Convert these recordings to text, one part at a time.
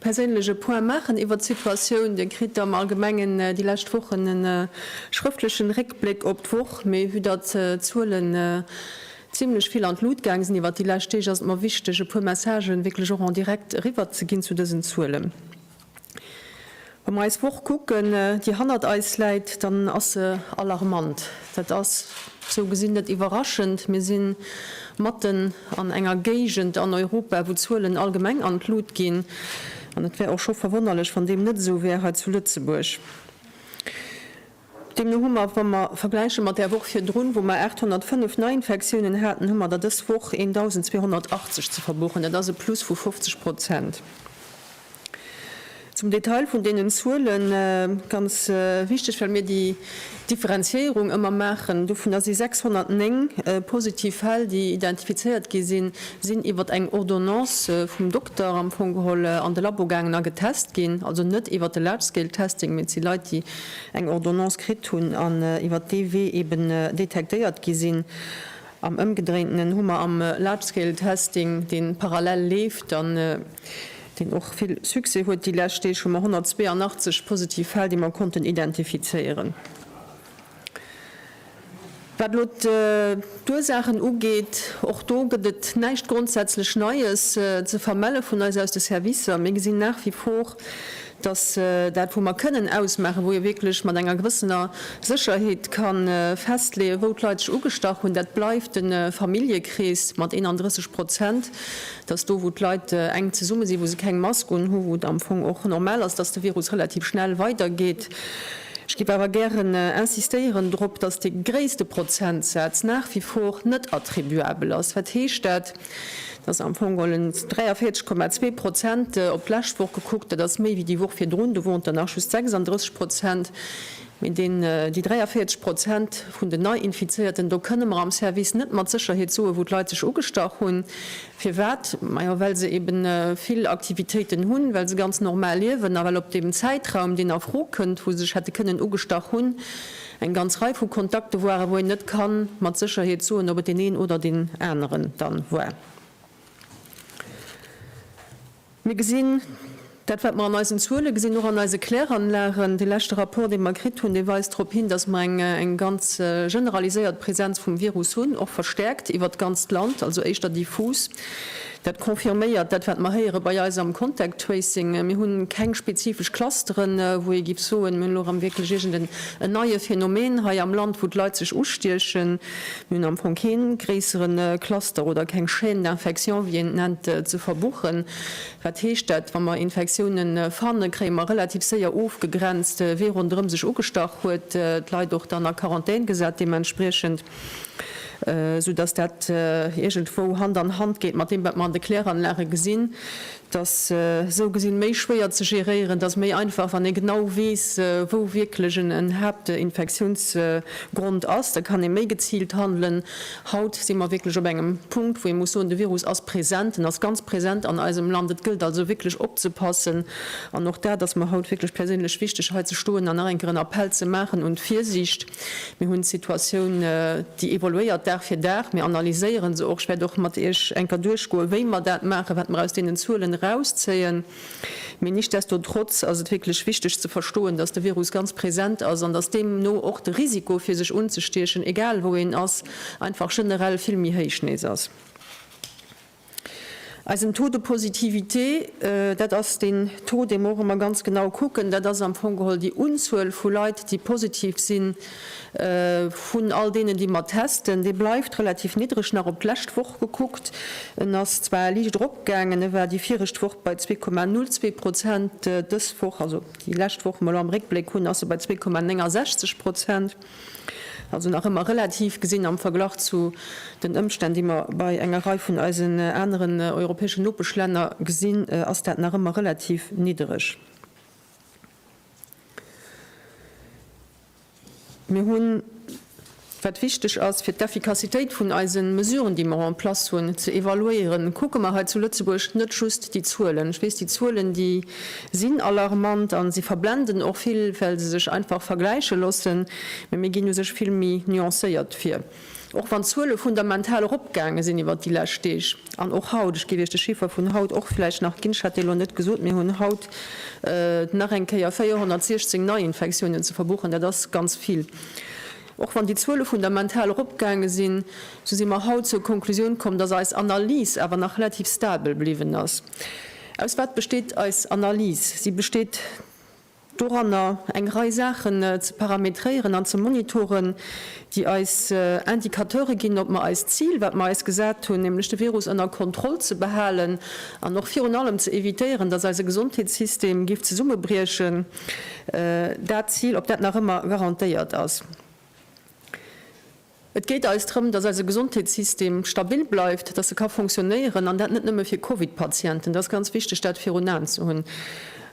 perséinlech e Point maachen iwwert d'Situatioun. Dir kritt am Allgemengen déi lescht Wochen e schrëftlechen Réckbléck op d'Woch, mee vue datt d'Zuelen zimlech vill an d'Lut gaang sinn iwwert déi lescht Deeg, ass et mer wichteg e puer Messagen wierklech och en direct eriwwer ze ginn zu dësen Zuelen. Wa mer eis Woch kucken, déi hannert eis läit, dann ass se alarmant. Dat ass sou gesinn net iwwerraschend. Mir si matten An enger Géigend an Europa, wou d'Zuelen allgemeng an d'Lut ginn, an et wär och scho verwonnerlech, wann deem net esou wär hei zu Lëtzebuerg. Deemno hu mer, wa mer vergläiche mat där Woch virdrun, wou mer 805 Neiinfektiounen haten, hu mer der dës Woch 1.280 ze verbuchen. Dat ass e Plus vu 50 Prozent. Zum Detail vun deenen Zuelen, ganz wichteg, well mir déi Differenziéierung ëmmer maachen, dovunner si 609 positiv Fäll, déi identifizéiert gi sinn, sinn iwwer eng Ordonnance vum Dokter am Fong geholl an de Labo gaangen a getest ginn, also net iwwer de Large Scale Testing, mee et si Leit, déi eng Ordonnance kritt hunn an iwwer dee Wee eeben detektéiert gi sinn. Am Ëmgedréintenen hu mer am Large-Scale Testing, deen parallel leeft an deen och vill Succès huet déi lescht Deeg, hu mer 182 positiv Fäll, déi mer konnten identifizéieren. Wat elo d'Ursaachen ugeet, och do gëtt et näischt grondsätzlech Neies ze vermelle vun eis aus de Servicer. Mir gesinn nach wie vor, dass dat wou mer kënnen ausmaachen, wou ee wierklech mat enger gewëssener Sécherheet ka festleeën, wou d'Leit sech ugestach hunn, dat bleift de Familljekrees mat 31 Prozent, dass do wou d'Leit enk zesumme sinn, wou se keng Mask un hu, wou et am Fong och normal ass, dass de Virus relativ schnell weidergeet. Ech géif awer gären insistéieren drop, dass dee gréisste Prozentsaz nach wie vor net attribuabel ass. Wat heescht dat? Dat ass am Fong en 43,2 Prozent op d'lescht Woch gekuckt. Dat ass méi wéi déi Woch virdrun, do woren et der nach just 36 Prozent. Mee déi 43 Prozent vun den Neiinfizéierten, do kënne mer am Service net mat Sécherheet soen, wou d'Leit sech ugestach hunn. Firwat? Majo well se ebe vill Aktivitéiten hunn, well se ganz normal liewen a well op deem Zäitraum, deen a Fro kënnt, wou se sech hätte kënnen ugestach hunn, Eng ganz Rei vu Kontakte waren, wou een net kann mat Sécherheet soen, ob et deen een oder deen aneren dann war. Mir gesinn, dat wat mer an eisen Zuele gesinn, och an eise Kläranlagen, dee leschte Rapport dee mer kritt hunn, dee weist drop hin, datt mer eng eng ganz generaliséiert Präsenz vum Virus hunn, och verstärkt iwwert d'ganzt Land, also éischter diffus. Dat confirméiert dat, wat mer héiere bei eis am Contact Tracing. Mir hu keng spezifesch Clusteren, wou ee giff soen, mir hunn elo erëm wierklech iergend en neie Phänomen hei am Land, wou d'Leit sech ustiechen. Mir hunn am Fong kee gréissere Cluster oder keng Chaîne d'infection, wéi een et nennt, ze verbuchen. Wat heescht dat? Wa mer Infektioune fanne, kréie mer relativ séier ofgegrenzt, wee ronderëm sech ugestach huet, d'Leit och dann a Quarantän gesat deementspriechend. esou datt dat iergendwou Hand an Hand geet mat deem, wat mer an de Kläranlage gesinn, dass esou gesinn méi schwéier ze géréieren ass, méi einfach, wann ee genau weess, wou wierklech en Haaptinfektiounsgrond ass, da kann ee méi geziilt handelen. Haut si mer wierklech op engem Punkt, wou ee muss soen, de Virus ass present, en ass ganz present an eisem Land. Et gëllt also wierklech opzepassen an och dat ass mer haut wierklech perséinlech wichteg, hei ze stoen an nach eng Kéier en Appell ze maachen un d'Virsiicht. Mir hunn d'Situatioun, déi evoluéiert Dag fir Dag. Mir analyséieren se och. Ech wäert och mat Iech enker duerchgoen, wéi mer dat maachen, wat mer aus deenen Zuelen erauszéien. Mee nichtsdestotrotz ass et wierklech wichteg ze verstoen, dass de Virus ganz present ass an dass deemno och de Risiko, fir sech unzestiechen, egal wou een ass, einfach generell vill méi héich nees ass. Eisen Taux de positivité, dat ass deen Taux, dee mer och ëmmer ganz genau kucken, dat ass am Fong geholl déi Unzuel vu Leit, déi positiv sinn, vun all deenen, déi mer testen, dee bleift relativ niddreg. Nach op d'lescht Woch gekuckt, en ass zwar liicht eropgaangen, e war déi viregt Woch bei 2,02 Prozent, dës Woch, also déi lescht Woch, déi mer elo am Réckbléck hunn, ass e bei 2,69 Prozent. Also nach ëmmer relativ gesinn am Verglach zu den Ëmstänn, déi mer bei enger Rei vun eisen aneren europäeschen Nopeschlänner gesinn, ass dat nach ëmmer relativ niddereg. Mir hunn, wat wichteg ass, fir d'Effikassitéit vun eise Mesuren, déi mer en place hunn, ze evaluéieren, kucke mer hei zu Lëtzebuerg net just déi Zuelen. Ech weess, déi Zuelen, déi. sinn alarmant a si verblenden och vill, well se sech einfach vergläiche loossen. Mee mir ginn u sech vill méi nuancéiert vir, och wann d'Zuele fundamental eropgaange sinn iwwert déi lescht Deeg an och haut. Ech géif Iech de Chiffer vun haut och vläicht nach ginn, ech hat dee lo net gesot. Mir hunn haut nach eng Kéier 416 Neiinfektiounen ze verbuchen. Dat ass ganz vill. Och wann déi Zuele fundamental eropgaange sinn, esou si mer haut zur Konklusioun komm, dass eis Analys awer nach relativ stabel bliwwen ass. Aus wat besteet eis Analys? Si besteet doranner, eng Rei Saachen ze parametréieren an ze monitoren, déi eis Indicateure ginn, ob mer eist Zil, wat mer eis gesat hunn, nämlech de Virus ënner Kontroll ze behalen an och virun allem ze evitéieren, dass eise Gesondheetssystem géif zesummebriechen, dat Zil, ob dat nach ëmmer garantéiert ass. Et geet eis drëm, dass eise Gesondheetssystem stabil bleift, dass e ka fonctionnéieren, an dat net nëmme fir Covid-Patienten. Et ass ganz wichteg, dat virun Aen ze hunn,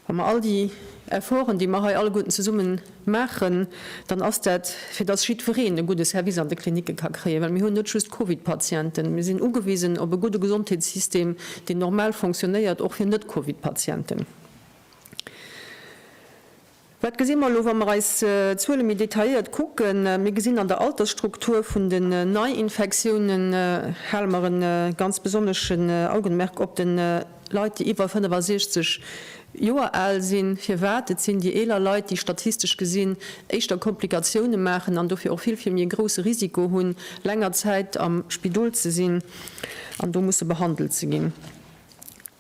wa mer all déi Efforten, déi mer hei alleguerten zesumme maachen, dann ass dat, fir dass jiddwereen e gudde Service an de Klinicke ka kréien, well mir hunn net just Covid-Patienten. Mir sinn ugewisen op e gudde Gesondheetssystem, deen normal fonctionnéiert, och fir Net-Covid-Patienten. Wat gesi mer elo, wa mer eis d'Zuele méi detailléiert kucken? Mir gesinn an der Altersstruktur vun den Neiinfektiounen, hale mer e ganz besonneschen Augenmerk op de Leit, déi iwwer 65 Joer al sinn. Firwat? Et sinn déi eeler Leit, déi statistesch gesinn éischter Komplikatioune maachen an dofir och vill vill méi e grousse Risiko hunn, länger Zäit am Spidol ze sinn an do musse behandelt ze ginn.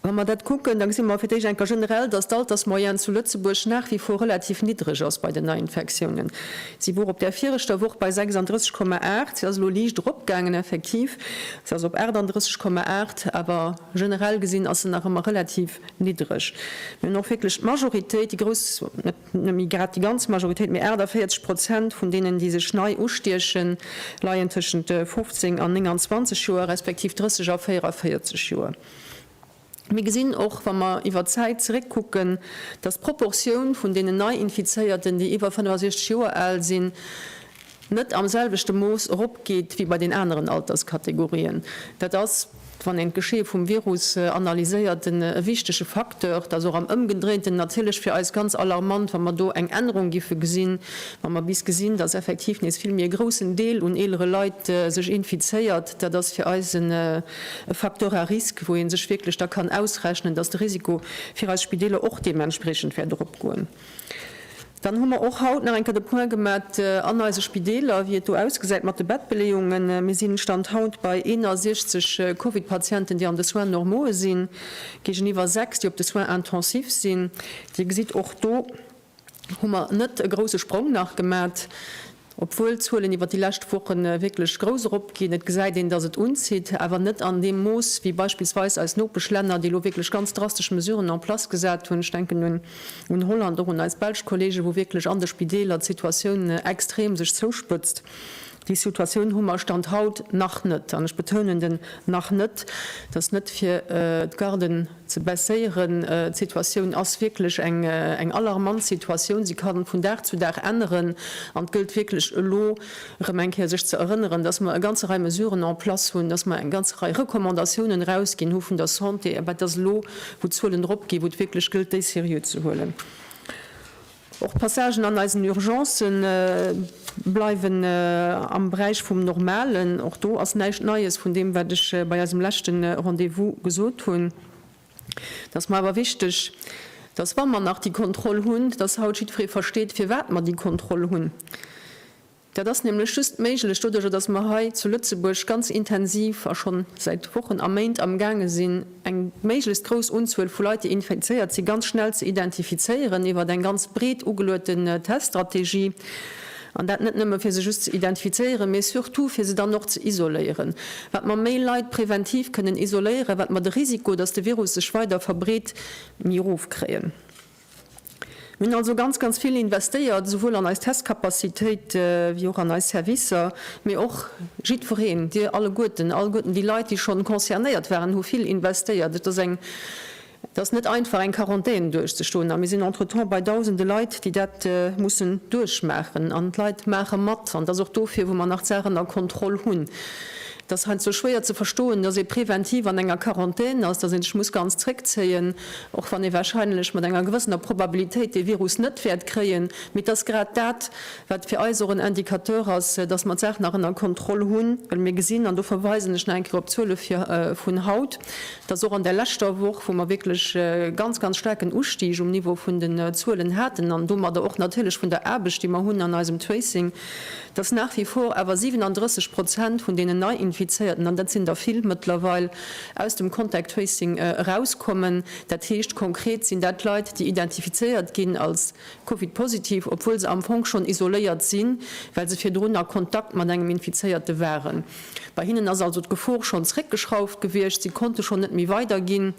Wa mer dat kucken, da gesi mer fir d'éischt eng Kéier generell, dass d'Altersmoyenne zu Lëtzebuerg nach wie vor relativ niddreg ass bei den Neiinfektiounen. Si wor op där viregter Woch bei 36, 8. Si ass elo liicht eropgaangen, effektiv. Si ass op 38, 8. Awer generell gesinn ass se nach ëmmer relativ niddreg. Mir hunn och wierklech d'Majoritéit, déi grouss, net nëmme grad déi ganz Majoritéit, mee 48 Prozent vun deenen, déi sech nei ustiechen, leien tëschent 15 an 29 Joer, respektiv 30 a 44 Joer. Mir gesinn och, wa mer iwwer d'Zäit zeréckkucken, dass d'Proportioun vun deenen Nei-Infizéierten, déi iwwer 65 Joer al sinn, net am selwechte Mooss eropgeet wéi bei den aneren Alterskategorien. Dat ass, wann een d'Geschee vum Virus analyséiert, e wichtege Facteur. Dat ass och am Ëmgedréinten natierlech fir eis ganz alarmant, wa mer do eng Ännerung géife gesinn, wa mer bis gesinn, dass effektiv nees vill méi e groussen Deel un eelere Leit sech infizéiert. Dat ass fir eis e. e Facteur à risque, wou ee sech wierklech da kann ausrechnen, dass de Risiko fir eis Spideeler och deementspreechend wäert eropgoen. Dann hu mer och haut nach eng Kéier de Point gemat an eise Spideeler, wéi et do ausgesäit mat de Bettbeleeungen. Mir sinn, Stand haut, bei 61 Covid-Patienten, déi an de Soins normaue sinn, géigeniwwer 6, déi op de Soins intensifs sinn. Dir gesitt och do, hu mer net e grousse Sprong nach gemat, obwuel d'Zuelen iwwer déi lescht Woche wierklech grouss eropginn. Et gesäit een, dass et unzitt, awer net an deem Mooss wéi beispillsweis eis Nopeschlänner, déi elo wierklech ganz drastesch Mesuren en place gesat hunn. Ech denken un Holland, och un eis belsch Kollegen, wou wierklech an de Spideeler d'Situatioun extrem sech zouspëtzt. Déi Situatioun hu mer Stand haut nach net, an ech betounen den nach net, dass net fir d'Garden, ze baisséieren. D'Situatioun ass wierklech eng alarmant Situatioun. Si ka vun Dag zu Dag änneren an et gëllt wierklech elo erëm eng Kéier sech ze erënneren, dass mer e ganze Rei Mesuren en place hunn, dass mer eng ganze Rei Recommandatiounen erausginn hu vun der Santé, awer et ass elo, wou d'Zuelen eropginn, wou et wierklech gëllt, déi seriö ze huelen. Och d'Passagen an eisen Urgencë bleiwen am Beräich vum Normalen. Och do ass näischt Neies vun deem, wat ech bei eisem leschte Rendez-vous gesot hunn. Et ass mer awer wichteg, dass, wa mer nach déi Kontroll hunn, dass haut jiddweree versteet, firwat mer déi Kontroll hunn. Dat ass nämlech just méiglech doduerjer, dass mer hei zu Lëtzebuerg ganz intensiv a schonn säit Wochen a Méint amgaange sinn, eng méiglechst grouss Unzuel vu Leit, déi infizéiert sinn, ganz schnell ze identifizéieren iwwert eng ganz breet ugelueten Teststrategie. An dat net nëmme fir se just ze identifizéieren, mee surtout fir se dann och ze isoléieren. Wat mer méi Leit preventiv kënnen isoléieren, wat mer de Risiko, dass de Virus sech weider verbreet, méi erof kréien. Mir hunn also ganz, ganz vill investéiert, esouwuel an eis Testcapacitéit wéi och an eis Servicer, mee och jiddwereen, Dir alleguerten, alleguerten déi Leit, déi schonn concernéiert waren, hu vill investéiert. Et ass eng, et ass net einfach, eng Quarantän duerchzustoen. A mir sinn entretemps bei Dausende Leit, déi dat mussen duerchmaachen. An d'Leit maache mat. An et ass och dofir, wou mer nach d'Saachen a Kontroll hunn. Et ass heiansdo schwéier ze verstoen, dass ee präventiv an enger Quarantän ass, dass ee sech muss ganz zréckzéien, och wann ee wahrscheinlech mat enger gewëssener Probabilitéit dee Virus net wäert kréien. Mee et ass grad dat, wat fir eis och en Indicateur ass, dass mer d'Saach nach ënner Kontroll hunn, well mir gesinn, an do verweisen ech nach eng Kéier op d'Zuele vun haut, dass och an där leschter Woch, wou mer wierklech e ganz, ganz staarken Ustig um Niveau vun den Zuelen haten an domadder och natierlech vun der Aarbecht, déi mer hunn an eisem Tracing, dass nach wie vor awer 37 Prozent vun deenen Neiinfizéierten, an dat sinn der vill mëttlerweil, aus dem Contact Tracing erauskommen. Dat heescht konkret sinn dat Leit, déi identifizéiert ginn als Covid-positiv, obwuel se am Fong schonn isoléiert sinn, well se virdrun a Kontakt mat engem Infizéierte waren. Bei hinnen ass also d'Gefor schonn zréckgeschrauft gewiescht, si konnte schonn net méi weiderginn.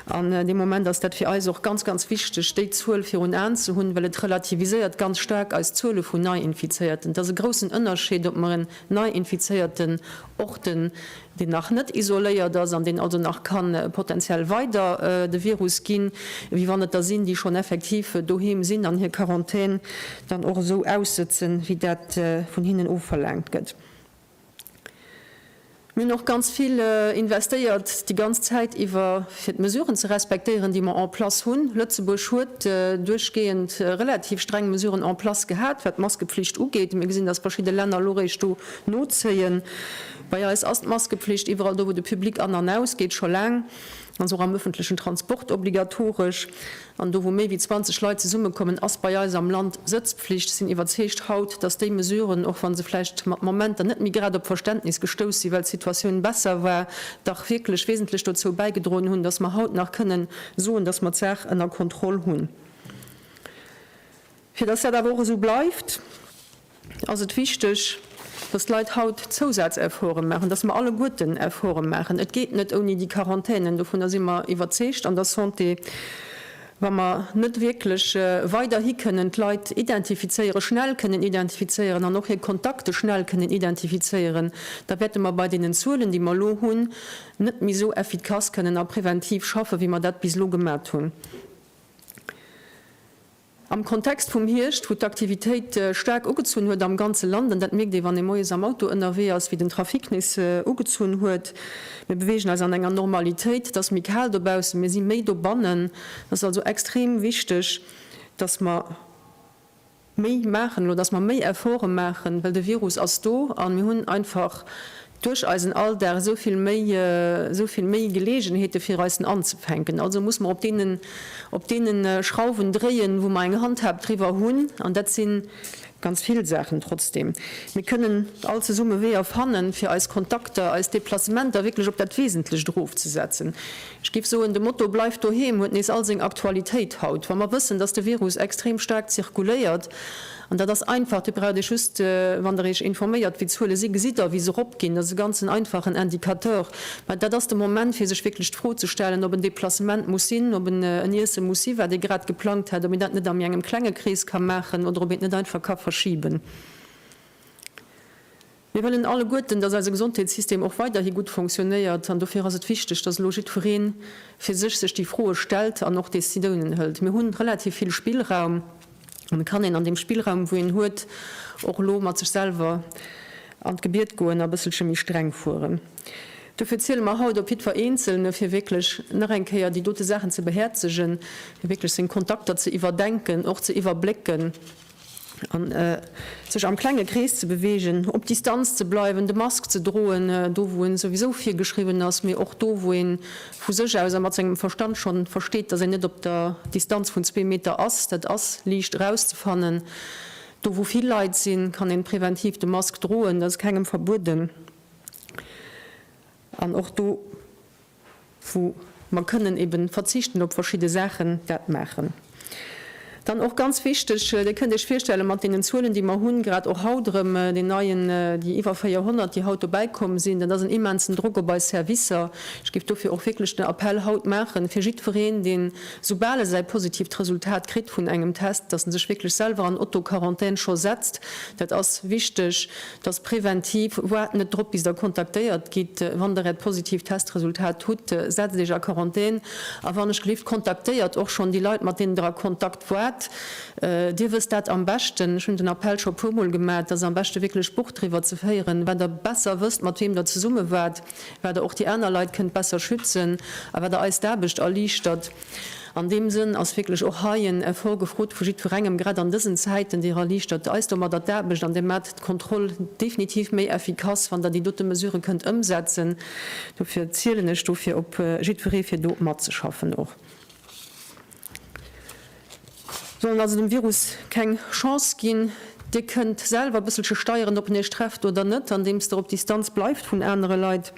An deem Moment ass dat fir eis och ganz, ganz wichteg, déi Zuel virun Aen ze hunn, well et relativiséiert ganz staark eis Zuele vun Neiinfizéierten. Et ass e groussen Ënnerscheed, ob mer en Neiinfizéierten orten, deen nach net isoléiert ass an deen also nach ka potenziell weider de Virus ginn, wéi wann et der sinn, déi schonn effektiv doheem sinn an hir Quarantän dann och esou aussëtzen, wéi dat vun hinnen ofverlaangt gëtt. Mir hunn och ganz vill investéiert déi ganz Zäit iwwer, fir d'Mesuren ze respektéieren, déi mer en place hunn. Lëtzebuerg huet duerchgehend relativ streng Mesuren en place gehat, wat d'Maskepflicht ugeet. Mir gesinn, dass verschidde Länner elo eréischt do nozéien. Bei eis ass d'Maskepflicht iwwerall do, wou de Public an an ausgeet, scho laang, also och am ëffentlechen Transport, obligatoresch. an do wou méi wéi 20 Leit zesummekommen, ass bei eis am Land Sëtzpflicht, sinn iwwerzeegt haut, datt déi Mesuren, och wa se vläicht mat Momenter net méi grad op Verständnis gestouss sinn, well d'Situatioun besser war, dach wierklech wesentlech dozou bäigedroen hunn, datt mer haut nach kënnen soen, datt mer d'Saach ënner Kontroll hunn. Fir dass dat awer och esou bleift, ass et wichteg, dass d'Leit haut Zousazefforte maachen, dass mer alleguerten Efforte maachen. Et geet net ouni déi Quarantänen, dovunner si mer iwwerzeegt an der Santé. Wa mer net wierklech weiderhi kënnen d'Leit identifizéieren, schnell kënnen identifizéieren an och hir Kontakte schnell kënnen identifizéieren, da wäerte mer bei deenen Zuelen, déi mer elo hunn, net méi esou effikass kënnen a preventiv schaffen, wéi mer dat bis elo gemat hunn. Am Kontext vum Hierscht, wou d'Aktivitéit staark ugezunn huet am ganze Land, an dat mierkt ee wann ee moies am Auto ënnerwee ass, wéi den Trafic nees ugezunn huet, mir beweegen eis an enger Normalitéit, et ass méi kal dobaussen, mir si méi dobannen, et ass also extrem wichteg, datt mer méi maachen elo, datt mer méi Efforte maachen, well de Virus ass do a mir hunn einfach Duerch eisen Alldag esou vill méi, esou vill méi Geleegenheete fir eisen anzefänken. Also muss mer op deenen, op deene Schrauwen dréien, wou mer eng Handhab driwwer hunn, an dat si ganz vill Saachen. Trotzdem, mir kënnen all zesumme Weeër fannen, fir eis Kontakter, eis Deplacementer wierklech op dat Wesentlecht erofzesetzen. Ech géif soen, de Motto Bleif doheem huet nees all seng Aktualitéit haut, wa mer wëssen, dass de Virus extrem staark zirkuléiert. An dat ass einfach, Dir braucht Iech just, wann Der Iech informéiert, wéi d'Zuele sinn, gesitt Der, wéi se eropginn. Dat ass e ganzen einfachen Indicateur. Mä dat ass de Moment, fir sech wierklech d'Fro ze stellen, ob en Deplacement muss sinn, ob en en Iesse muss sinn, wat ee grad geplangt hätt, ob een dat net a méi engem klenge Krees ka maachen oder ob een et net einfach ka verschiben. Mir wëllen alleguerten, dass eise Gesondheetssystem och weiderhi gutt fonctionnéiert an dofir ass et wichteg, dass elo jiddweree fir sech sech déi Froe stellt an och Décidounen hëlt. Mir hunn relativ vill Spillraum an et kann een an deem Spillraum wou een huet och elo mat sech selwer an d'Gebiet goen a bësselche méi streng fueren. Dofir ziele mer haut op jiddwer Eenzelne fir wierklech nach eng Kéier déi dote Saachen ze behäerzegen, fir wierklech seng Kontakter ze iwwerdenken, och ze iwwerblécken. an sech am klenge Krees ze beweegen, op Distanz ze bleiwen, de Mask ze droen, do wou en souwisou virgeschriwwen ass, mee och do wou een vu sech aus a mat sengem Verstand schonn versteet, dass een net op der Distanz vun zwee Meter ass. Dat ass liicht erauszefannen. Do wou vill Leit sinn, kann een präventiv de Mask droen, dat ass kengem verbueden an och do, wou mer kënnen eben verzichten op verschidde Saachen, dat maachen. Dann och ganz wichteg, Dir kënnt Iech virstellen, mat deenen Zuelen, déi mer hunn, grad och haut erëm deen neien, déi iwwer 400, déi haut dobäi komm sinn, dat ass en immensen Drock op eis Servicer. Ech géif dofir och wierklech den Appell haut maachen, fir jiddwereen, deen, soubal e säi positiivt Resultat kritt vun engem Test, dass en sech wierklech selwer an Auto-Quarantän scho setzt. Dat ass wichteg. dass präventiv, waart net drop bis der kontaktéiert gitt, wann der äert positiivt Testresultat hutt, setzt iech a Quarantän a wann ech gelift kontaktéiert och schonn déi Leit mat deenen der a Kontakt waart. Dir wësst dat am beschten, ech hunn den Appell scho puer mol gemat, et ass am beschte wierklech Buch driwwer ze féieren, wat der besser wësst mat weem der zesumme waart, wat der och déi aner Leit kënnt besser schützen a wat der eis d'Aarbecht erliichtert. An deem Sënn ass wierklech och hei en Effort gefrot vu jiddwerengem, grad an dësen Zäiten. Dir erliichtert eis domadder d'Aarbecht an Dir maacht d'Kontroll definitiv méi effikass, wann Der déi dote Mesuren kënnt ëmsetzen. Dofir zielen ech dofir op jiddweree fir do matzeschaffen och. Mir sollen also dem Virus keng Chance ginn. Dir kënnt selwer e bësselche steieren, ob en iech trefft oder net, andeems der op Distanz bleift vun anere Leit.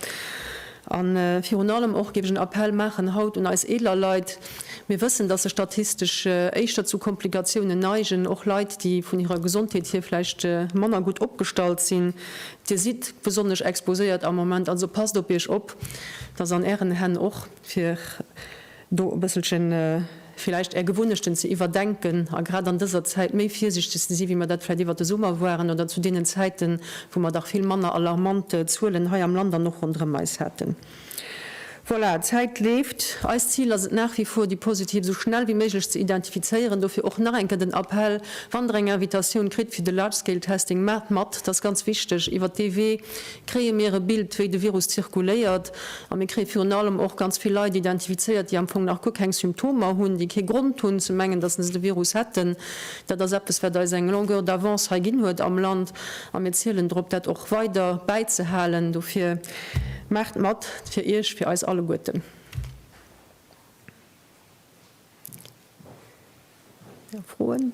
A virun allem och géif ech en Appell maachen haut un eis eeler Leit. Mir wëssen, dass se statistesch éischter zu Komplikatiounen neigen, och Leit, déi vun hirer Gesondheet hier vläicht manner gutt opgestallt sinn. Dir sidd besonnesch exposéiert am Moment, also passt op iech op, dass an ären Hänn och fir. do e bësselchen villäicht Är Gewunnechten ze iwwerdenken a grad an dëser Zäit méi virsiichteg ze si wéi mer dat vläicht iwwert de Summer waren oder zu deenen Zäiten, wou mer dach vill manner alarmant Zuelen hei am Land an och ronderëm eis haten. Voilà, d'Zäit leeft. Eist Zil ass et nach wie vor, déi Positiv esou schnell wéi méiglech ze identifizéieren. Dofir och nach eng Kéier den Appell, Wann Der eng Invitatioun kritt fir de Large-Scale-Testing, maacht mat, dat ass ganz wichteg, iwwert dee Wee kréie mir e Bild, wéi de Virus zirkuléiert, a mir kréie virun allem och ganz vill Leit identifizéiert, déi am Fong nach guer keng Symptomer hunn, déi kee Grond hunn ze mengen, datt se de Virus hätten. Dat ass eppes, wat eis eng Longueur d'avance hei ginn huet am Land, a mir zielen drop, dat och weider bäizehalen. Dofir maacht mat, fir Iech, fir eis alleguerten! Froen?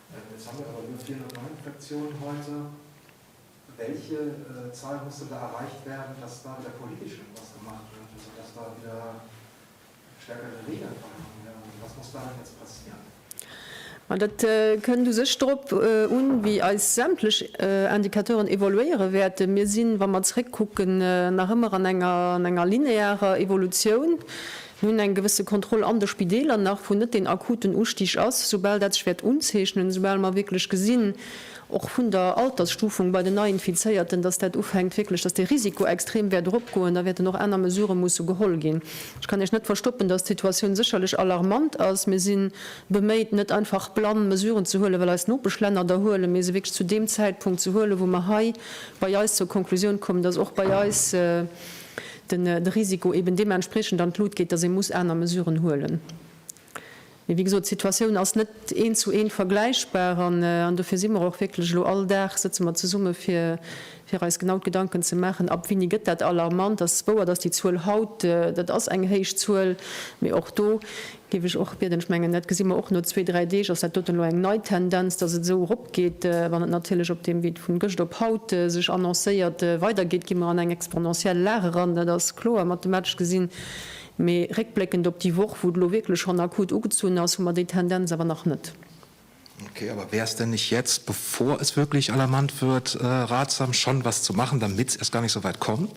Ma dat kënnt u sech drop un, wéi eis sämtlech Indicateuren evoluéiere wäerten. Mir sinn, wa mer zeréckkucken, nach ëmmer an enger linearer Evolutioun. Mir hunn eng gewësse Kontroll an de Spideeler nach, wou net deen akuten Ustig ass. Soubal dat sech wäert unzeechnen, soubal mer wierklech gesinn, och vun der Altersstufung bei den Neiinfizéierten, dass dat ufänkt wierklech, dass de Risiko extrem wäert eropgoen, da wäerten och aner Mesurë musse geholl ginn. Ech kann Iech net verstoppen, dass d'Situatioun sécherlech alarmant ass. Mir si beméit, net einfach blann Mesuren ze huelen, well eis Nopeschlänner der huelen, mee se wierklech zu deem Zäitpunkt ze huelen, wou mer hei bei eis zur Konklusioun kommen, dass och bei eis, den Risiko eben deementspriechend an d'Lut geet, dass ee muss aner Mesuren huelen. Mee wéi gesot, d'Situatioun ass net eent zu eent vergläichbar an dofir si mer och wierklech elo, all Dag sëtze mer zesumme fir eis genau d'Gedanken ze maachen, ab wéini gëtt dat alarmant. Et ass wouer, dass déi Zuel haut, dat ass eng héich Zuel, mee och do Géif ech och bieden. Ech mengen, dat gesi mer och no zwee, dräi Deeg, ass dat doten elo eng nei Tendenz, dass et esou eropgeet. Wann et natierlech op deem Wee vun gëscht op haut sech annoncéiert weidergeet, gi mer an eng exponentiell Lag eran. Dat ass kloer mathematesch gesinn. Mee réckbléckend op déi Woch, wou et elo wierklech schonn akut ugezunn ass, hu mer déi Tendenz awer nach net. Okay, aber wäre es denn nicht jetzt, bevor es wirklich alarmant wird, ratsam, schon etwas zu machen, damit es erst gar nicht so weit kommt?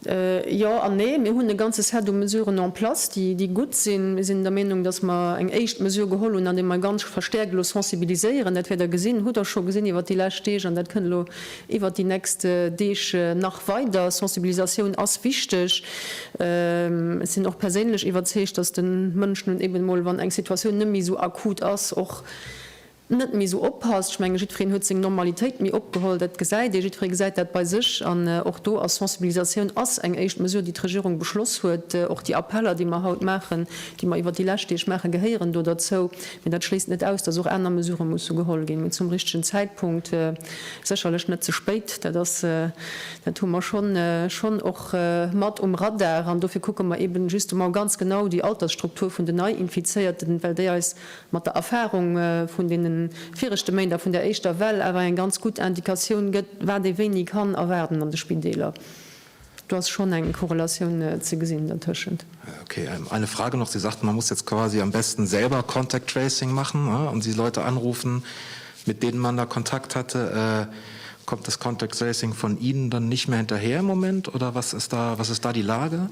Jo an nee. Mir hunn e ganze Set u Mesuren en place, déi, déi gutt sinn. Mir sinn der Meenung, dass mer eng éischt Mesure geholl hunn, andeem mer ganz verstäerkt elo sensibiliséieren. Dat wäert Der gesinn, hutt Der scho gesinn iwwert déi lescht Deeg an dat kënnt elo iwwert déi nächst Deeg nach weider. Sensibilisatioun ass wichteg. Ech sinn och perséinlech iwwerzeegt, dass de Mënsch nun eben emol, wann eng Situatioun net méi esou akut ass, och net méi esou oppasst. Ech menge jiddwereen huet seng Normalitéit méi opgeholl, dat gesäit ee, jiddweree gesäit dat bei sech an och do ass Sensibilisatioun ass eng éischt Mesure déi d'Regierung beschloss huet. Och déi Appeller déi mer haut maachen, déi mer iwwert déi lescht Deeg maachen, gehéieren do derzou. Mee dat schléisst net aus, datt och aner Mesurë musse geholl ginn, mee zum richtegen Zäitpunkt, sécherlech net ze spéit, dat ass, dat hu mer schonn schonn och mat um Radar an dofir kucke mer eben justement ganz genau déi Altersstruktur vun den Neiinfizéierten, well déi eis mat der Erfahrung vun deene viregte Méint a vun där éischter Well awer eng ganz gutt Indikatioun gëtt, wat ee wéini kann erwaarden an de Spideeler. Do ass schonn eng Korrelatioun ze gesinn dertëschent. Okay, eine Frage noch, Sie sagten, man muss jetzt quasi am besten selber contact tracing machen und die Leute anrufen, mit denen man da Kontakt hatte. Kommt das contact tracing von Ihnen dann nicht mehr hinterher im Moment oder was ist da die Lage?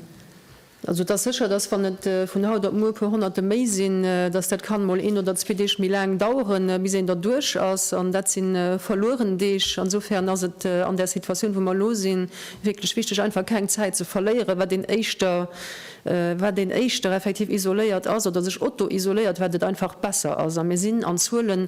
Also et ass sécher, dass wann et vun haut op muer e puer Honnerte méi sinn, dass dat kann emol een oder zwee Deeg méi laang daueren, bis een derduerch ass. An dat si verlueren Deeg. Insofern ass et an där Situatioun, wou mer elo sinn, wierklech wichtig, einfach keng Zäit ze verléieren. Wat een éischter, wat een éischter effektiv isoléiert ass oder sech autoisoléiert, wat et einfach besser ass. A mir sinn an Zuelen,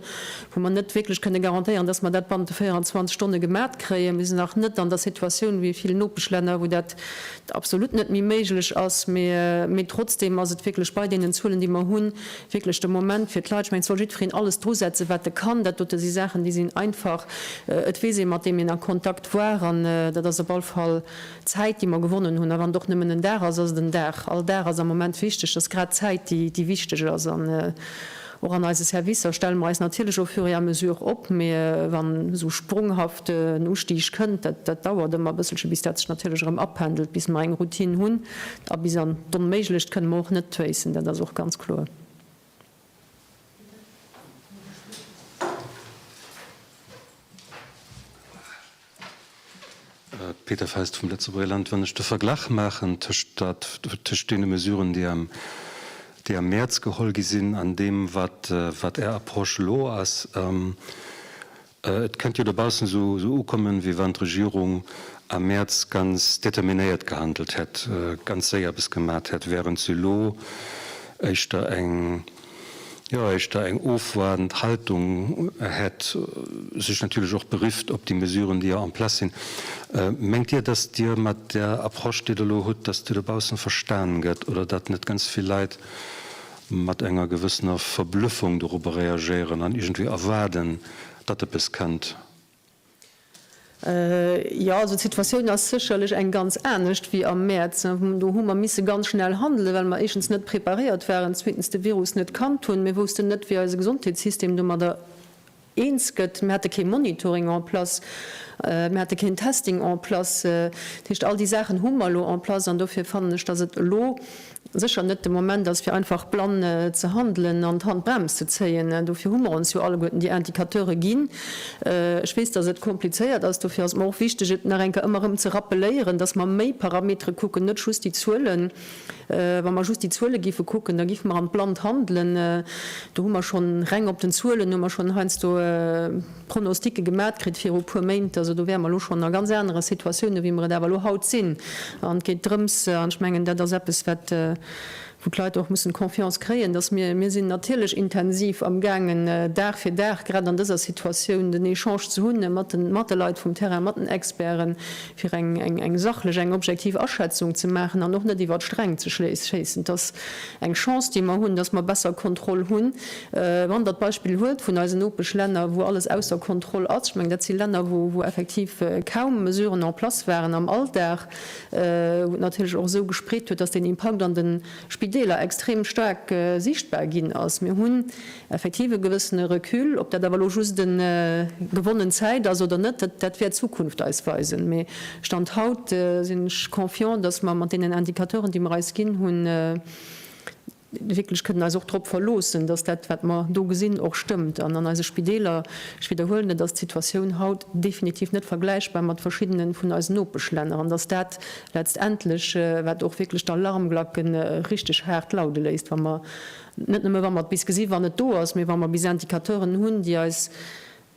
wou mer net wierklech kënne garantéieren, dass mer dat bannent de 24 Stonne gemat kréien. Mir sinn nach net an der Situatioun wéi vill Nopeschlänner, wou dat et absolut net méi méiglech ass, mee trotzdem ass et wierklech bei deenen Zuelen, déi mer hunn, wierklech de Moment fir d'Leit, ech mengen, et soll jiddwereen alles drusetzen, wat e kann. Dat dote si Saachen, déi sinn einfach, et weess ee, mat deem een a Kontakt war, an dat ass op all Fall Zäit, déi mer gewonnen hunn. A wann et och nëmmen en Dag ass, ass et en Dag. All Dag ass am Moment wichteg. Et ass grad d'Zäit, déi wichteg ass. Och an eise Servicer stelle mer eis natierlech au fur et à mesure op, mee wann esou sprunghaft en Ustig kënnt, dat dauert ëmmer e bësselche bis dat sech natierlech erëm apendelt, bis mer eng Routine hunn. A bis an d'Onméiglecht kënne mer och net tréissen, dat ass och ganz kloer. Peter Fest vum Lëtzebuerger Land. Wann ech de Verglach maachen tëscht deene Mesuren, déi am Mäerz geholl gi sinn, an deem, wat Är Approche elo ass, et kënnt jo dobaussen esou ukommen, wéi wann d'Regierung am Mäerz ganz determinéiert gehandelt hätt, ganz séier eppes gemat hätt, wärend se elo éischter eng. jo éischter eng ofwaardend Haltung hätt, sech natierlech och berifft op déi Mesuren, déi jo en place sinn. Mengt Dir, datt Dir mat där Approche, déi Der elo hutt, datt Dir dobaussen verstan gëtt oder datt net ganz vill Leit mat enger gewëssener Verblüffung dorobber reagéieren an iergendwéi erwaarden, datt eppes kënnt? Jo, also d'Situatioun ass sécherlech eng ganz anescht wéi am Mäerz. Do hu mer misse ganz schnell handelen, well mer éischtens net preparéiert waren, zweetens de Virus net kannt hunn. Mir woussten net, wéi eise Gesondheetssystem domadder eens gëtt. Mir hate kee Monitoring en place, mir hate keen Testing en place. Dat heescht, all déi Saachen hu mer elo en place an dofir fannen ech, datt et elo sécher net de Moment ass fir einfach blann ze handelen an d'Handbrems ze zéien. Dofir hu mer ons jo alleguerten déi Indicateure ginn. Ech weess, datt et komplizéiert ass, dofir ass et mer och wichteg et nach eng Kéier ëmmer erëm ze rappeléieren, datt mer méi Parametere kucken, net just déi Zuelen. Wa mer just déi Zuele géife kucken, da géife mer an d'Blannt handelen. Do hu mer schonn, reng op den Zuelen hu mer schonn heiansdo, Pronosticke gemat kritt viru puer Méint. Also do wäre mer elo schonn a ganz anere Situatiounen, wéi mer et awer elo haut sinn. An et geet drëms, an ech mengen, dat ass eppes, wat, wou d'Leit och mussen Confiance kréien, dass mir, mir sinn natierlech intensiv amgaangen, Dag fir Dag, grad an dëser Situatioun, den Echange ze hunn mat de, mat de Leit vum Terrain, mat den Experten, fir eng, eng, eng sachlech, eng objektiv Aschätzung ze maachen an och net iwwer d'Sträng ze schéissen. Et ass eng Chance, déi mer hunn, dass mer besser Kontroll hunn. Wann Der d'Beispill huet vun eisen Nopeschlänner, wou alles ausser Kontroll ass, ech mengen, dat si Länner, wou effektiv kaum Mesuren en place waren am Alldag, wou et natierlech och esou gespreet huet, dass den Impakt an de Spideeler extrem staark sichtbar ginn ass. Mir hunn effektiv e gewëssene Recul. Ob dat awer elo just gewonnen Zäit ass oder net, dat wäert d'Zukunft eis weisen. Mee Stand haut sinn ech confiant, dass mer mat deenen Indicateuren, déi mer eis ginn hunn, wierklech kënnen eis och drop verloossen, dass dat, wat mer do gesinn, och stëmmt. An an eise Spideeler, ech widderhuelen et, ass d'Situatioun haut definitiv net vergläichbar mat verschiddene vun eisen Nopeschlänner. An dass dat letztendlech, wat och wierklech d'Alarmglacke richtig haart laude léisst, wa mer, net nëmme wa mer et bis gesi wann et do ass, mee wa mer bis Indicateuren hunn, déi eis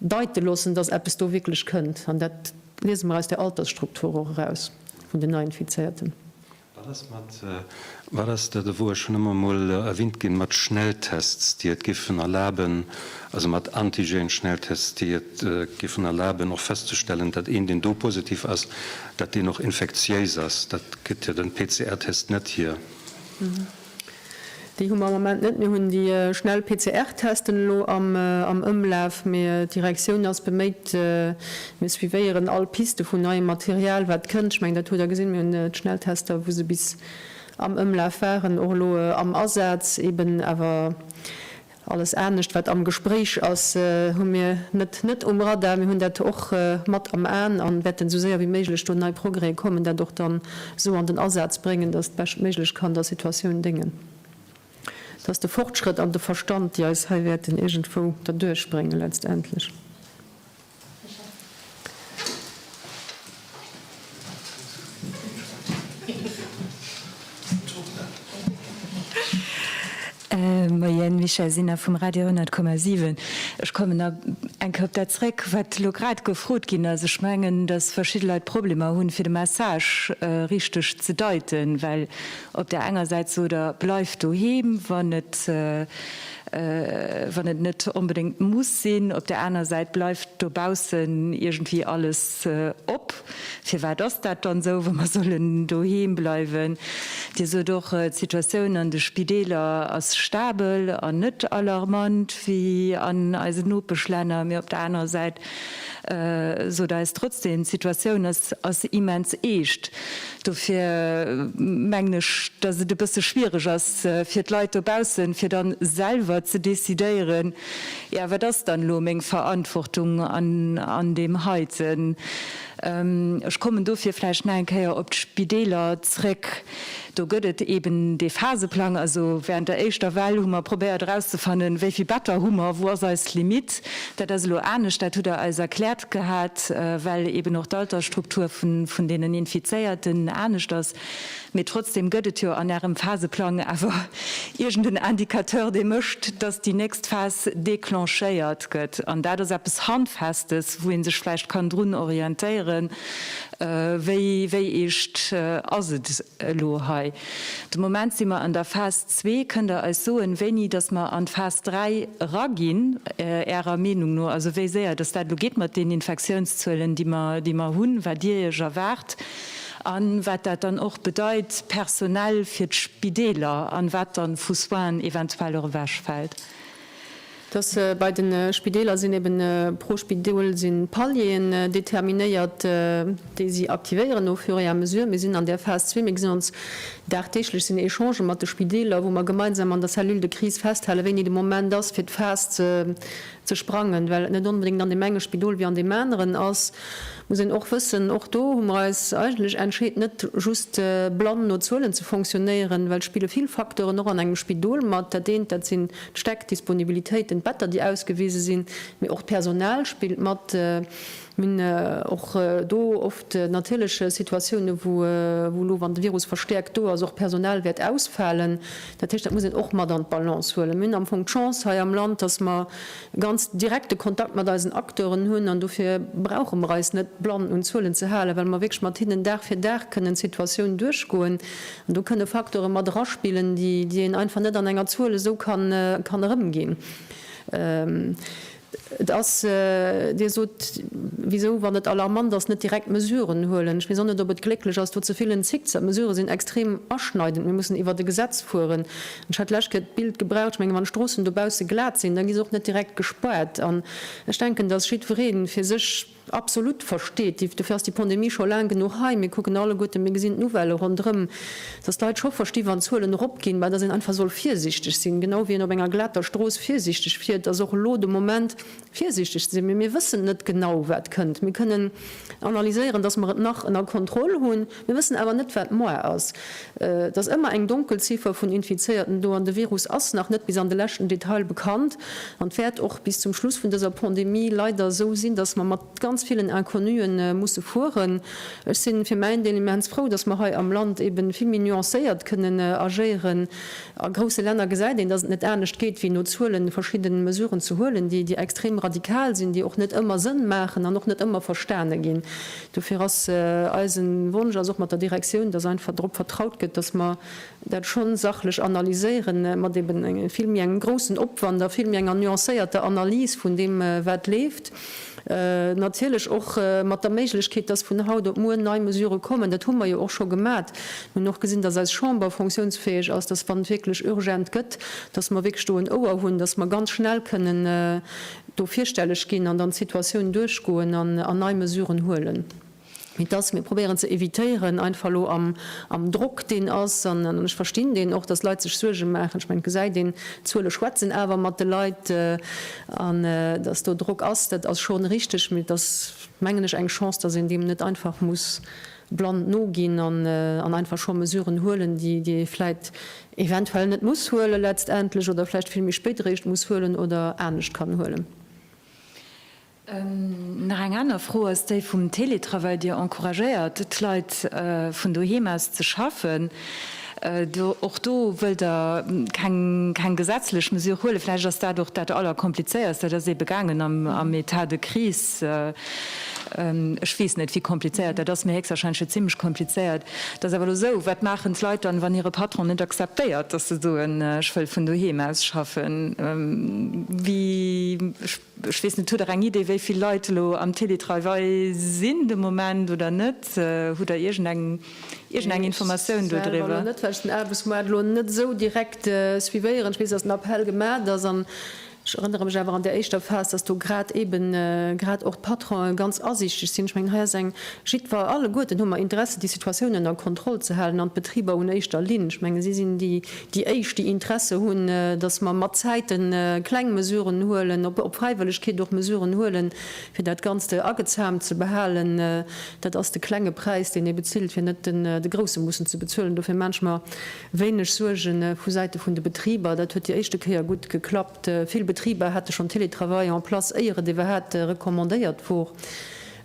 deite loossen, dass eppes do wierklech kënnt. An dat liese mer aus der Altersstruktur och eraus vun den Neinfizéierten. Wat ass mat, wat ass dat ewou, ech hunn ëmmer emol erwinnt ginn, mat Schnelltests, déi et géifen erlaben, also mat Antigen-Schnelltests, déi et géifen erlaben och festzestellen, datt een, deen do positiv ass, datt deen och infektiéis ass? Dat gëtt jo de PCR-Test net hier. Déi hu mer am Ament net. Mir hunn déi schnell PCR-Testen elo am Ëmlaf, mee d'Direktioun ass beméit. Mir suivéieren all Piste vun neiem Material, wat kënnt. Ech mengen, dat hutt Der gesinn, mir hunn d'Schnelltester, wou se bis am Ëmlaf waren, och elo am Asaz eben. Awer Alles anescht wat am Gespréich ass, hu mir net net um Radar. Mir hunn dat och mat am Aen a wäerten esou séier wéi méiglech do nei Progrèse kommen, dat och dann esou an den Asaz bréngen, datt et beschtméiglech kann der Situatioun déngen. Et ass de Fortschrëtt an de Verstand, déi eis hei wäerten iergendwou derduerchbréngen letztendlech. Moien, Michèle Sinner vum Radio 100,7. Ech kommen nach eng Kéier op dat zréck, wat elo grad gefrot ginn ass. Ech mengen, datt verschidde Leit Problemer hunn, fir de Message richteg ze deiten, well op där enger Säit sot Der, Bleift doheem, wann et wann et net onbedéngt muss sinn. Op der aner Säit bleift dobaussen iergendwéi alles op. Firwat ass dat dann esou, wa mer sollen doheem bleiwen? Dir sot och, d'Situatioun an de Spideeler ass stabel an net alarmant wéi an eisen Nopeschlänner. Mee op der anerer Säit sot eis trotzdem, d'Situatioun ass immens eescht. Dofir mengen ech, datt et e bësse schwiereg ass fir d'Leit dobaussen, fir dann selwer ze decidéieren, jo, wat ass dann elo meng Verantwortung an deem heiten. Ech kommen dofir vläicht nach eng Kéier op d'Spideeler zréck. Do gëtt et eben dee Phaseplang. Also während der éischter Well hu mer probéiert erauszefannen, wéi vill Better hu mer, wou ass eis Limite. Dat ass elo anescht, dat hutt Der eis erkläert gehat, well eben och d'Altersstruktur vun deenen Infizéierten anescht ass. Mee trotzdem gëtt et jo an Ärem Phaseplang awer iergend en Indicateur, dee mécht, dass déi nächst Phas declenchéiert gëtt. An dat ass eppes Handfestes, wou ee sech vläicht kann drun orientéieren, wéi eescht ass et elo hei. De Moment si mer an der Phas, Zwee, Kënnt Der eis soen, wéini dass mer an d'Phas 3 eraginn, Ärer Meenung no, also wéi séier dass dat elo geet mat den Infektiounszuelen, déi mer hunn, wat Dir Iech erwaart a wat dat dann och bedeit personell fir d'Spideeler an wat dann vu Soinen eventuell och ewechfält? dass bei de Spideeler sinn eben pro Spidol si Palieren determinéiert, déi si aktivéieren au fur et à mesure. Mir sinn an där Phas zwee, mir gesinn ons dagdeeglech, sinn Echangen mat de Spideeler, wou mer gemeinsam an der Cellule de crise festhale wéini de Moment ass, fir d'Phas ze sprangen, well et net onbedéngt an deem enge Spidol wéi an deem aneren ass. Muss een och wëssen, och do hu mer eis eigentlech entscheet net just blann no Zuelen ze fonctionnéieren, well et spille vill Facteuren och an engem Spidol mat. Dat eent, dat sinn d'Stäck, d'Disponibilitéiten, d'Better déi ausgewise sinn, mee och d'Personal spillt mat. Mir hunn och do oft natierlech Situatiounen, wou elo wann de Virus verstäerkt do ass, och Personal wäert ausfalen. Dat heescht, dat muss een och mat an d'Balance huelen. Mir hunn am Fong d'Chance hei am Land, datt mer, e ganz direkte Kontakt mat eisen Acteuren hunn an dofir brauche mer eis net blann un Zuelen ze halen, well mer wierklech mat hinnen Dag fir Dag kënnen d'Situatioun duerchgoen. An do kënne Facteure mat eraspillen, déi een einfach net an enger Zuel esou kann erëmginn. Et ass, Dir sot, wisou, wann et alarmant ass, net direkt Mesuren huelen. Ech weess och net, ob et glécklech ass, do ze villen Zickzack. D'Mesurë sinn extrem aschneidend. Mir mussen iwwert e Gesetz fueren. Ech hat d'lescht Kéier d'Bild gebraucht, ech mengen, wann d'Stroossen dobausse glat sinn, da gi se och net direkt gespaart. An ech denken, dass jiddweree fir sech absolut versteet, dofir ass déi Pandemie scho laang genuch hei, mir kucken alleguerten, mir gesinn d'Nouvellë ronderëm, dass d'Leit scho versti wann d'Zuelen eropginn, mä dass een einfach soll virsichteg sinn, genau wéi een op enger glater Strooss virsichteg fiert, ass och elo de Moment, virsiichteg ze sinn, mee mir wëssen net genau, wat kënnt. Mir kënnen analyséieren, dass mer et nach ënner Kontroll hunn, mir wëssen awer net, wat moar ass. Et ass ëmmer eng Donkelziffer vun Infizéierten do, an de Virus ass nach net bis an de leschten Detail bekannt an wäert och bis zum Schluss vun dëser Pandemie leider esou sinn, dass mer mat ganz villen Inconnue musse fueren. Ech si fir mäin Deel immens frou, dass mer hei am Land eeben vill méi nuancéiert kënnen agéieren. A grousse Länner gesäit een, datt et net anescht geet, wéi no Zuelen verschidden Mesuren ze huelen, déi déi extrem radikal sinn, déi och net ëmmer Sënn maachen an och net ëmmer verstane ginn. Dofir ass eisen Wonsch, ass och mat der Direktioun, datt einfach drop vertraut gëtt, datt mer dat schonn sachlech analyséieren, mat eben vill méi engem groussen Opwand a vill méi enger nuancéierter Analys vun deem wat leeft. Natierlech och mat der Méiglechkeet, dass vun haut op muer nei Mesurë kommen. Dat hu mer jo och scho gemat. Mir hunn och gesinn, dass eis Chamber fonctionsfäeg ass, dass, wann et wierklech urgent gëtt, dass mer wierklech do en Ouer hunn, dass mer ganz schnell kënnen do virstelleg ginn an dann d'Situatioun duerchgoen an nei Mesuren huelen. mee dass mir probéieren ze évitéieren, einfach elo am Drock, deen ass, an ech verstinn deen och, dass Leit sech Suerge maachen, ech mengen, d'Gesäit een, d'Zuele schwätzen awer mat de Leit, an dass do Drock ass, dat ass schonn richtig, mee et ass, mengen ech, eng Chance, dass een deem net einfach muss blann noginn an einfach scho Mesuren huelen, déi ee vläit eventuell net muss huelen letztendlech oder vläicht vill méi spéit eréischt muss huelen oder anescht kann huelen. Nach eng aner Fro ass déi vum Teletravail. Dir encouragéiert d'Leit vun doheem aus ze schaffen. Och do wëllt Der keng gesetzlech Mesure huelen. Vläicht ass dat och dat Allerkomplizéierst. Dat ass eebe gaangen am Etat de crise. Ech weess net, wéi komplizéiert dat ass, mee héchstwahrscheinlech jo zimmlech komplizéiert. Et ass awer elo esou, Wat maachen d'Leit dann, wann hire Patron net akzeptéiert, dass se soen, Ech wëll vun doheem aus schaffen? Wéi? Ech weess net, hutt Der eng Idee, wéi vill Leit elo am Télétravail sinn de Moment oder net? Hutt Der iergendeng iergendeng Informatioun do driwwer? Ech selwer elo net, well ech den Aarbechtsmoart elo net esou direkt suivéieren. Ech weess, datt en Appell gemaacht ass an ech erënnere mech awer an där éischter Phas, datt do grad eeben grad och d'Patronen ganz asiichteg sinn. Ech mengen, hei ass eng jiddwer, alleguerten hu mer Interesse déi Situatioun ënner Kontroll ze halen an d'Betriber un éischter Linn. Ech mengen, si sinn déi, déi éischt déi Interesse hunn, dass mer mat Zäite kleng Mesuren huelen, op Fräiwëllegkeet och Mesuren huelen, fir dat Ganzt agezaamt ze behalen. Dat ass de klenge Präis, deen ee bezilt, fir net de grousse mussen ze bezuelen. Dofir maache ech mer wéineg Suerge vu Säite vun de Betriber. Dat huet déi éischte Kéier gutt geklappt. Vill Betriber hate schonn Télétravail en place, éier et iwwerhaapt recommandéiert wor.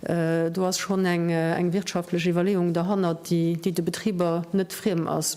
Do ass schonn eng wirtschaftlech Iwwerleeung derhannert, déi de Betriber net friem ass.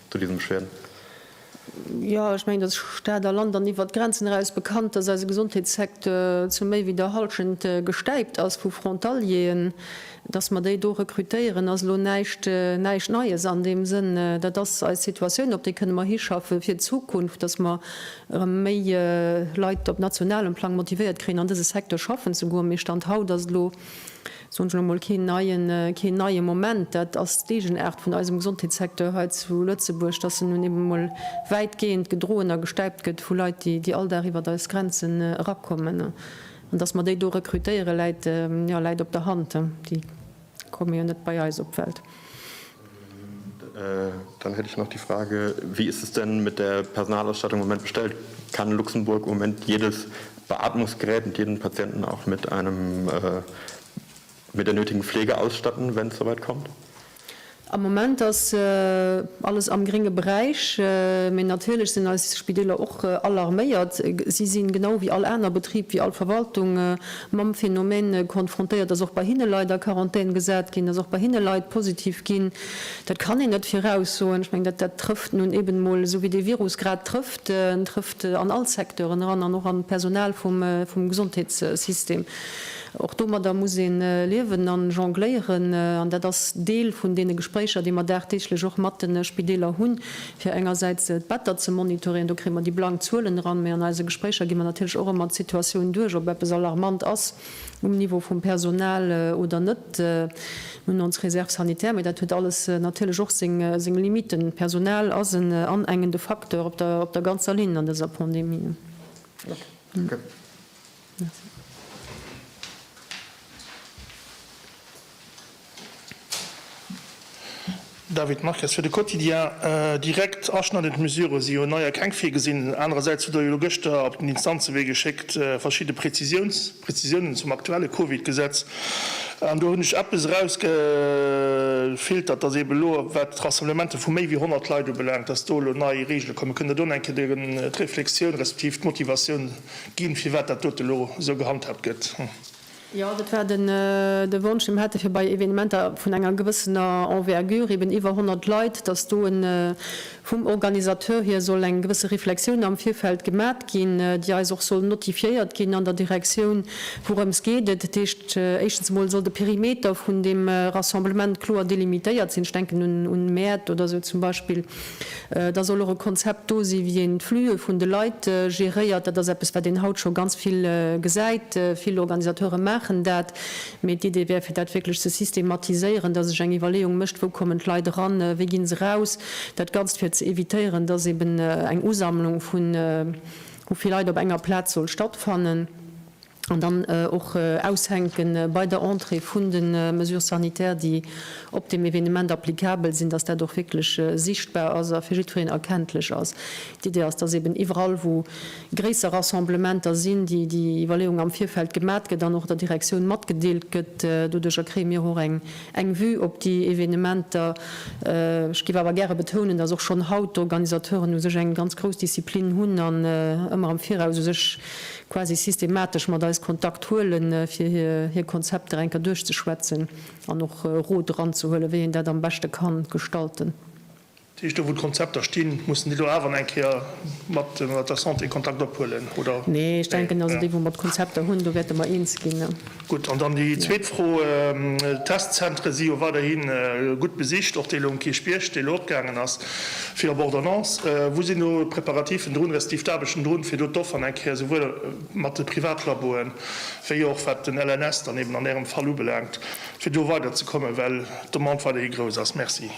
zu diesem Schweden? Jo, ech mengen, et ass Stad a Land an iwwert d'Grenzen eraus bekannt, dass eise Gesondheetssecteur zu méi wéi der Halschent gestäipt ass vu Frontalieren. Dass mer déi do rekrutéieren, ass elo näischt Neies an deem Sënn. Dat ass eis Situatioun, op déi kënne mer hischaffen fir d'Zukunft, dass mer erëm méi Leit op nationalem Plang motivéiert kréien, an dëse Secteur schaffen ze goen. Mee Stand haut ass et elo. soen ech elo mol, keen neien, keen neie Moment. Dat ass d'Eegenaart vun eisem Gesondheetssecteur hei zu Lëtzebuerg, dass en nun eben emol wäitgehend gedroen a gestäipt gëtt vu Leit, déi, déi all Dag iwwert eis Grenzen erakommen. An dass mer déi do rekrutéieren, läit, jo, läit op der Hand, déi komme jo net bei eis op d'Welt. Dann hätt ech nach déi Frage, Wie ist es denn mit der Personalausstattung im Moment bestellt? Kann Luxemburg im Moment jedes Beatmungsgerät und jeden Patienten auch mit einem mit der nötigen Pflege ausstatten, wenn es soweit kommt? Am Moment ass alles am grénge Beräich, mee natierlech sinn eis Spideeler och alarméiert. Si sinn, genau wéi all aner Betrib, wéi all Verwaltung, mam Phänomen konfrontéiert, dass och bei hinne Leit a Quarantän gesat ginn, dass och bei hinne Leit positiv ginn. Dat kann een net viraussoen. Ech mengen, dat trëfft nun eben emol esou, wéi dee Virus grad trëfft. En trëfft an all Secteuren eran an och an d'Personal vum Gesondheetssystem. Och domadder muss ee liewen a jongléieren an dat ass Deel vun deene Gespréicher, déi mer dagdeeglech och mat de Spideeler hunn, fir engersäits d'Better ze monitoréieren, do kréie mer déi blank Zuelen eran, mä an eise Gespréicher gi mer natierlech och ëmmer d'Situatioun duerch, ob eppes alarmant ass um Niveau vum Personal oder net. Mir hunn ons Réserve sanitaire, mä dat huet alles natierlech och seng Limiten. D'Personal ass en anengende Facteur op der ganzer Linn an dëser Pandemie. David Marques, fir de Quotidien, Direkt aschneidend Mesure si jo nei a keng virgesinn. Anerersäits hutt Der jo elo gëschter op den Instanzewee geschéckt verschidde Prezisiounen zum aktuelle Covid-Gesetz. An do hunn ech eppes erausgefiltert, datt eeben elo wat d'Rassemblemente vu méi wéi 100 Leit ubelaangt, datt do elo nei Reegele kommen. Kënnt Der do nach eng Kéier d'Reflexioun respektiv d'Motivatioun Ginn, firwat dat dote elo esou gehandhaabt gëtt. Jo, dat war de Wonsch, dee mer hätte fir bei Evenementer vun enger gewëssener Envergure, eben iwwer 100 Leit, dass do vum Organisateur hier soll eng gewësse Reflexioun am Virfeld gemat ginn, déi eis och soll notifiéiert ginn an der Direktioun, wourëms geet et. Dat heescht, éischtens emol soll de Perimeter vun deem Rassemblement kloer delimitéiert sinn. Ech denken un Mäert oder esou zum Beispill. Da soll och e Konzept do sinn, wéi een d'Flüe vun de Leit geréiert. Dat ass eppes, wat een haut scho ganz vill gesäit. Vill Organisateure maachen dat. Mee d'Idee wär, fir dat wierklech ze systematiséieren, dass sech eng Iwwerleeung mécht, Wou kommen d'Leit eran? Wéi ginn se raus? Dat Ganzt, fir ze evitéieren, dass eben eng Usammlung vu vill Leit op enger Plaz soll stattfannen. an dann och aushänke bei der Entrée vun de Mesures sanitaires, déi op deem Evenement applicabel sinn, dass dat och wierklech sichtbar ass a fir jiddwereen erkenntlech ass. D'Idee ass, dass eben iwwerall, wou gréisser Rassemblementer sinn, déi Iwwerleeung am Virfeld gemat gëtt an och der Direktioun matgedeelt gëtt. Doduercher kréie mir och eng Vue op déi Evenementer. Ech géif awer gäre betounen, dass och schonn haut d'Organisateuren u sech eng ganz grouss Disziplin hunn an ëmmer am Viraus u sech quasi systematesch mat eis Kontakt huelen, fir hir Konzepter enker duerchzeschwätzen an och Rot eranzehuelen, wéi een dat am beschte ka gestalten. Dat heescht, do wou d'Konzepter stinn, mussen déi do awer eng Kéier mat der Santé Kontakt ophuelen, oder? Nee, ech denken, also déi wou mer d'Konzepter hunn, do wäerte mer eens ginn. Gutt, an dann déi zweet Fro, d'Testzentre si jo weiderhi gutt besicht, och dee lo um Kierchbierg, dee lo opgaangen ass fir op Ordonnance. Wou sinn do d'Preparativen drun, respektiv d'Aarbechten drun, fir do d'Offeren eng Kéier esouwuel mat de Privatlaboen, wéi och wat den LNS dann eben an Ärem Fall ubelaangt, fir do weiderzekommen, well d'Demande weiderhi grouss ass? Merci.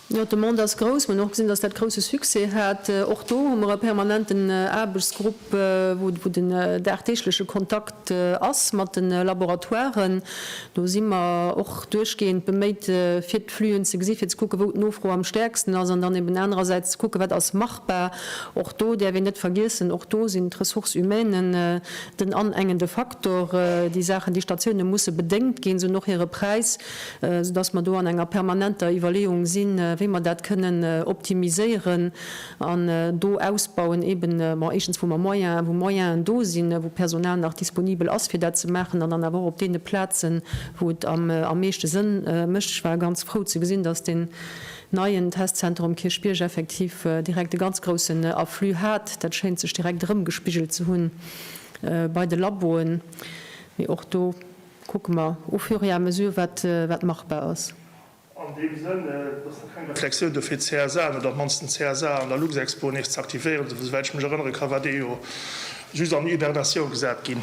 Jo, d'Demande ass grouss. Mir hunn och gesinn, dass dat grousse Succès hat. Och do hu mer e permanenten Aarbechtsgrupp, wou den dagdeegleche Kontakt ass mat de Laboratoiren. Do si mer och duerchgehend beméit, fir d'Flühen ze gesi fir ze kucken, wou d'Nofro am stäerksten ass, an dann eben anerersäits ze kucken, wat ass machbar. Och do däerf een net vergiessen, och do sinn d'Ressources humaines den anengende Faktor. Déi Saachen, déi Statioune musse bedéngt ginn, se hunn och hire Präis. soudass mer do an enger permanenter Iwwerleeung sinn, wéi mer dat kënnen optimiséieren an do ausbauen, eeben, bon, éischtens, wou mer Moyen, wou Moyenen do sinn, wou Personal nach disponibel ass, fir dat ze maachen, an dann awer och op deene Plazen, wou et am meeschte Sënn mécht. Ech war ganz frou ze gesinn, dass deen neien Testzenter um Kierchbierg effektiv direkt e ganz groussen Afflux hat. Dat schéint sech direkt erëmgespigelt ze hunn bei de Laboen, mee och do, Kucke mer au fur et à mesure, wat machbar ass. An deem Sënn, dass do keng Reflexioun do fir d'CSA an, oder op d'mannsten d'CSA an der Luxexpo nees z'aktivéieren, souwäit ech mech erënnere ka war dee jo just an Hibernatioun gesat ginn.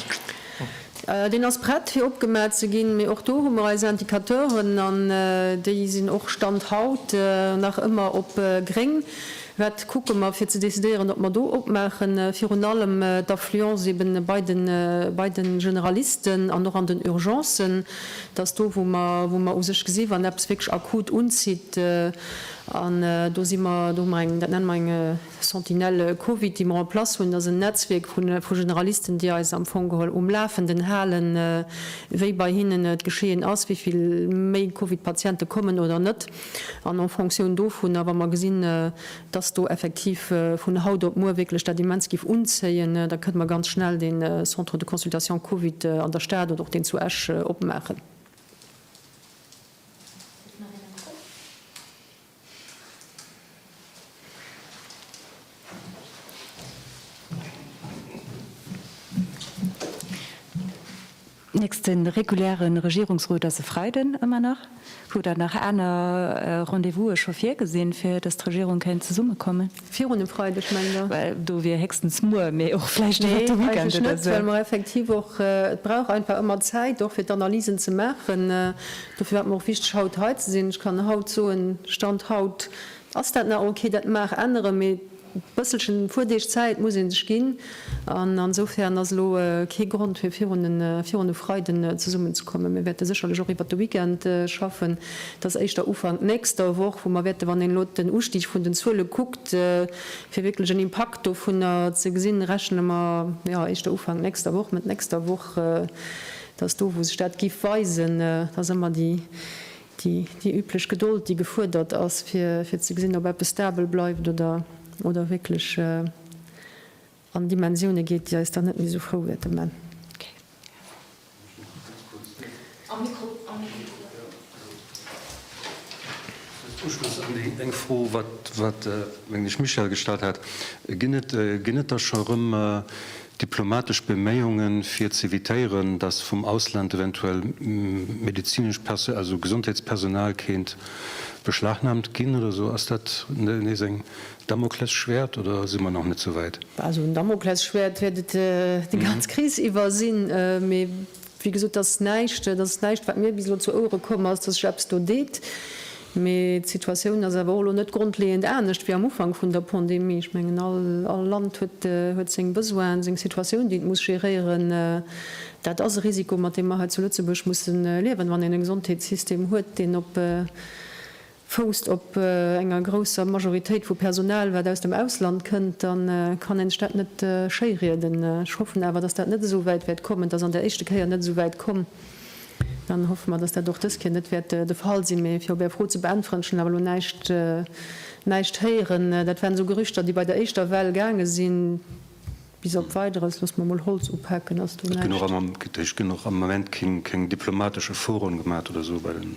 Deen ass prett fir opgemat ze ginn, mee och do hu mer eis Indicateuren an déi sinn och Stand haut nach ëmmer op gréng. Wat kucke mer, fir ze decidéieren, ob mer do opmaachen? Virun allem d'Affluence ebe bei de Generalisten an och an den Urgencen. Dat ass do, wou mer u sech gesinn, wann eppes wierklech akut unzitt. An do si mer, do hu mer eng, dat nenne mer eng Sentinelle Covid, déi mer en place hunn. Dat ass en Netzwierk vu Generalisten, déi eis am Fong geholl um Lafenden halen, wéi bei hinnen d'Geschehen ass, wéi vill méi Covid-Patiente kommen oder net. An en Fonctioun dovunner, wa mer gesinn, dass do effektiv vun haut op muer wierklech dat immens géif unzéien, da kënne mer ganz schnell dee Centre de consultation Covid an der Stad oder och deen zu Esch opmaachen. Nächste reguläre Regierungsrot ass e Freiden, ëmmer nach. Hutt Der nach aner Rendez-vouse scho virgesinn, fir datt d'Regierung kéint zesummekommen? Virun dem Freideg, mengt Der? Well do wier héchstens muer, mee och vläicht iwwer de Weekend oder esou. Nee, eigentlech net, well mer effektiv och, et brauch einfach ëmmer Zäit och, fir d'Analysen ze maachen. Dofir war et mer och wichteg, haut hei ze sinn. Ech kann haut soen, Stand haut, Ass dat nach ok? Dat mag änneren, mee bësselchen, e puer Deeg Zäit muss ee sech ginn. An insofern ass elo kee Grond fir virun e Freiden zesummen ze kommen. Mir wäerte sécherlech och iwwert de Weekend schaffen. Et ass éischter Ufank nächster Woch, wou mer wäerten, wann een elo den Ustig vun den Zuele kuckt, fir wierklech en Impakt dovunner ze gesinn, rechne mer, jo, éischter Ufank nächster Woch, Mëtt nächster Woch, dass do, wou sech dat giff weisen, dass ëmmer déi déi üblech Gedold, déi gefuerdert ass, fir ze gesinn, ob eppes stabel bleift oder wierklech an Dimensioune geet, déi eis dann net méi esou frou wäerte man. Uschloss un déi eng Fro, wat, mengen ech, Michèle gestallt hat, Ginn et da scho rëm Diplomatesch Beméiungen fir z'evitéieren, datt vum Ausland eventuell medezinesch Perso also Gesondheetspersonal kéint beschlagnahmt ginn oder esou, ass dat nees eng Damoklesschwäert oder si mer nach net souwäit? Bah, esou en Damoklesschwäert wäert et déi ganz Kris iwwer sinn, mee Wéi gesot, dat ass näischt, dat ass näischt, wat mir bis elo zu Ouere komm ass, datt sech eppes do deet. Mee d'Situatioun ass awer och elo net grondleeënd anescht wéi am Ufank vun der Pandemie. Ech mengen, all Land huet seng Besoinen, seng Situatioun, déi et muss geréieren. Dat ass e Risiko, mat deem mer hei zu Lëtzebuerg musse liewen, wann een e Gesondheetssystem huet, deen op. fousst op enger grousser Majoritéit vu Personal, wat aus dem Ausland kënnt, da kann een sech dat net schéirieden. Ech hoffen awer, dass dat net esou wäit wäert kommen. Et ass an der éischte Kéier net esou wäit komm. Dann hoffe mer, dass dat och dës Kéier net wäert de Fall sinn. Mee fir op Är Fro ze beäntweren, ech hunn awer elo näischt, näischt héieren. Dat waren esou Gerüchter, déi bei der éischter Well gaange sinn. Bis op Weideres, loosse mer emol Holz upaken, ass do näischt. Et ginn och am Moment keng diplomatesch Efforten gemaach oder esou bei den